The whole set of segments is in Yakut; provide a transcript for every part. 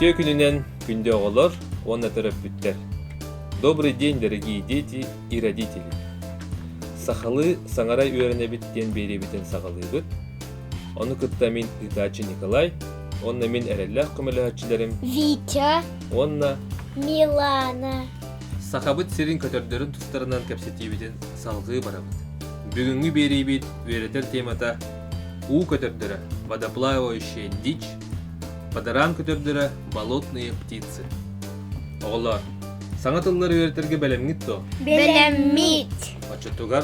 Үтүө күнүнэн күндү оҕолор уонна төрөппүттэр. Добрый день, дорогие дети и родители! Сахалыы саҥара үөрэнэбит диэн биэриэбитин саҕалыыбыт. Ону кытта мин ыытааччы Николай, уонна мин эрэллээх көмөлөһөөччүлэрим Витя, уонна Милана. Сахабыт сирин көтөрдөрүн тустарынан кэпсэтиибитин салҕыы барабыт. Бүгүҥҥү биэриибит үөрэтэр темата уу көтөрдөрө водоплавающая дичь, падаран көтөрдөрө болотные птицы. Оҕолоор, саҥа тыллары үөрэтэргэ бэлэмҥит дуо? Бэлэммит. Оччотугар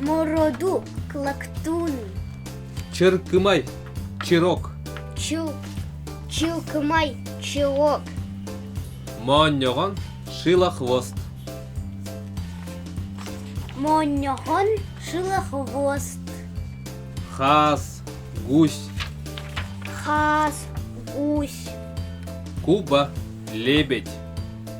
Мороду клактун. Чыркымай чирок. Чу чылкымай чылок. Моонньоҕон шилохвост. Моонньоҕон шилохвост. Хаас гусь. Хаас гусь. Куба лебедь.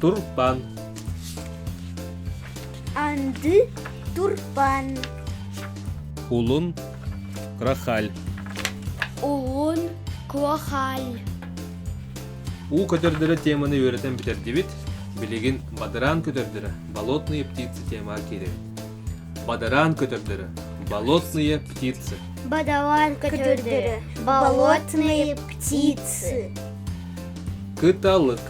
турбан анды турбан улун крахаль улун крахаль уу көтөрдөрө теманы үөрэтэн бүтэрдибит билигин бадараан көтөрдөрө болотные птицы тема кииребит бадараан көтөрдөрө болотные птицы бадараан көтөрдөрө болотные птицы кыталык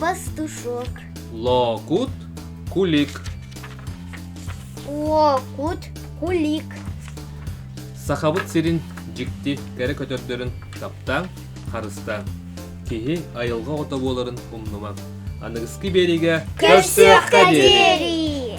пастушок лоокут кулик лоокут кулик сахабыт сирин дьикти кэрэ көтөрдөрүн таптаан харыстааҥ киһи айылҕа оҕото буоларын умнумаҥ аныгыскы биэриигэ көрсүөххэ диэри